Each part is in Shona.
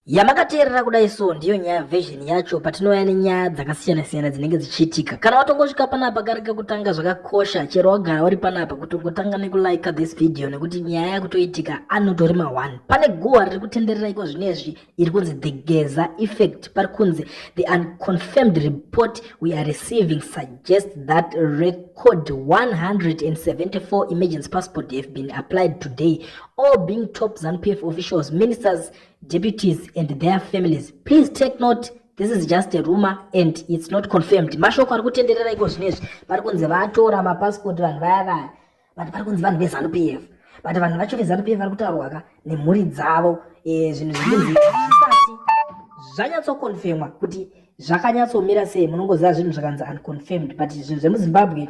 yamakateerera kudai so ndiyo nyaya version yacho patinouya nenyaya dzakasiyana-siyana dzinenge dzichiitika kana watongosvika panapa kari kekutanga zvakakosha chero wagara wari panapa kuti ungotanga nekulika this video nekuti nyaya yakutoitika anotorima one pane guhwa riri kutenderera iko zvino izvi iri kunzi the geza effect pari kunzi the unconfirmed report we are receiving suggest that record 174 emergency passport have been applied today all being top ZANU-PF officials, ministers, deputies, and their families. Please take note, this is just a rumor and it's not confirmed. Mashoko ari kutenderera iko zvinezvi, pari kunzi vatora mapassport vanhu vaya vaya, but pari kunzi vanhu veZANU-PF. But vanhu vacho veZANU-PF vari kutaurwa ka nemhuri dzavo, eh, zvinhu zvinonzi zvisati zvanyatsokonfirmwa kuti zvakanyatsomira sei, munongoziva zvinhu zvakanzi unconfirmed, but zvinhu zvemuZimbabwe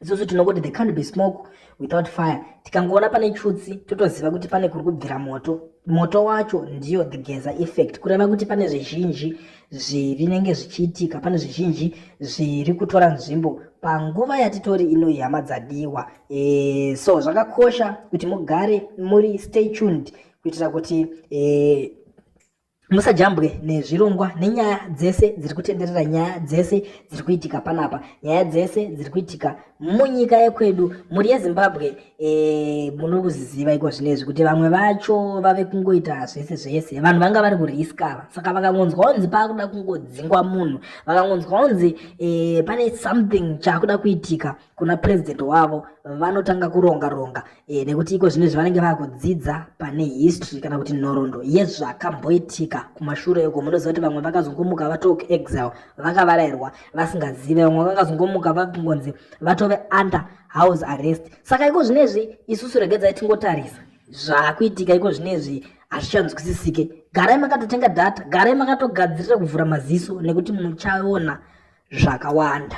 isusu tinokuti the can't be smoke without fire tikangoona pane chutsi totoziva kuti pane kuri kubvira moto moto wacho ndiyo the geza effect kureva kuti pane zvizhinji zvinenge zvichiitika pane zvizhinji zviri kutora nzvimbo panguva yatitori ino ihama dzadiwa e, so zvakakosha kuti mugare muri stay tuned kuitira kuti e, musajambwe nezvirongwa nenyaya dzese dziri kutenderera nyaya dzese dziri kuitika panapa nyaya dzese dziri kuitika munyika yekwedu mhuri yezimbabwe e, muri kuziziva iko zvinezvi kuti vamwe vacho vave kungoita zvese zvese vanhu vanga vari kuriskava saka vakangonzwa onzi paakuda kungodzingwa munhu vakangonzwa onzi e, pane something chaakuda kuitika kuna president wavo vanotanga kuronga ronga e, nekuti iko zvine zvavanenge vakudzidza pane history kana kuti nhorondo yezvakamboitika kumashure uko munoziva kuti vamwe vakazongomuka vatoke exile vakavarairwa vasingazive vamwe vakazongomuka vakungonzi vatove under house arrest saka iko zvinezvi isusu regedzai tingotarisa zvakuitika iko zvinezvi hazvichanzwisisike garai makatotenga data garai makatogadzirira kuvhura maziso nekuti muchaona zvakawanda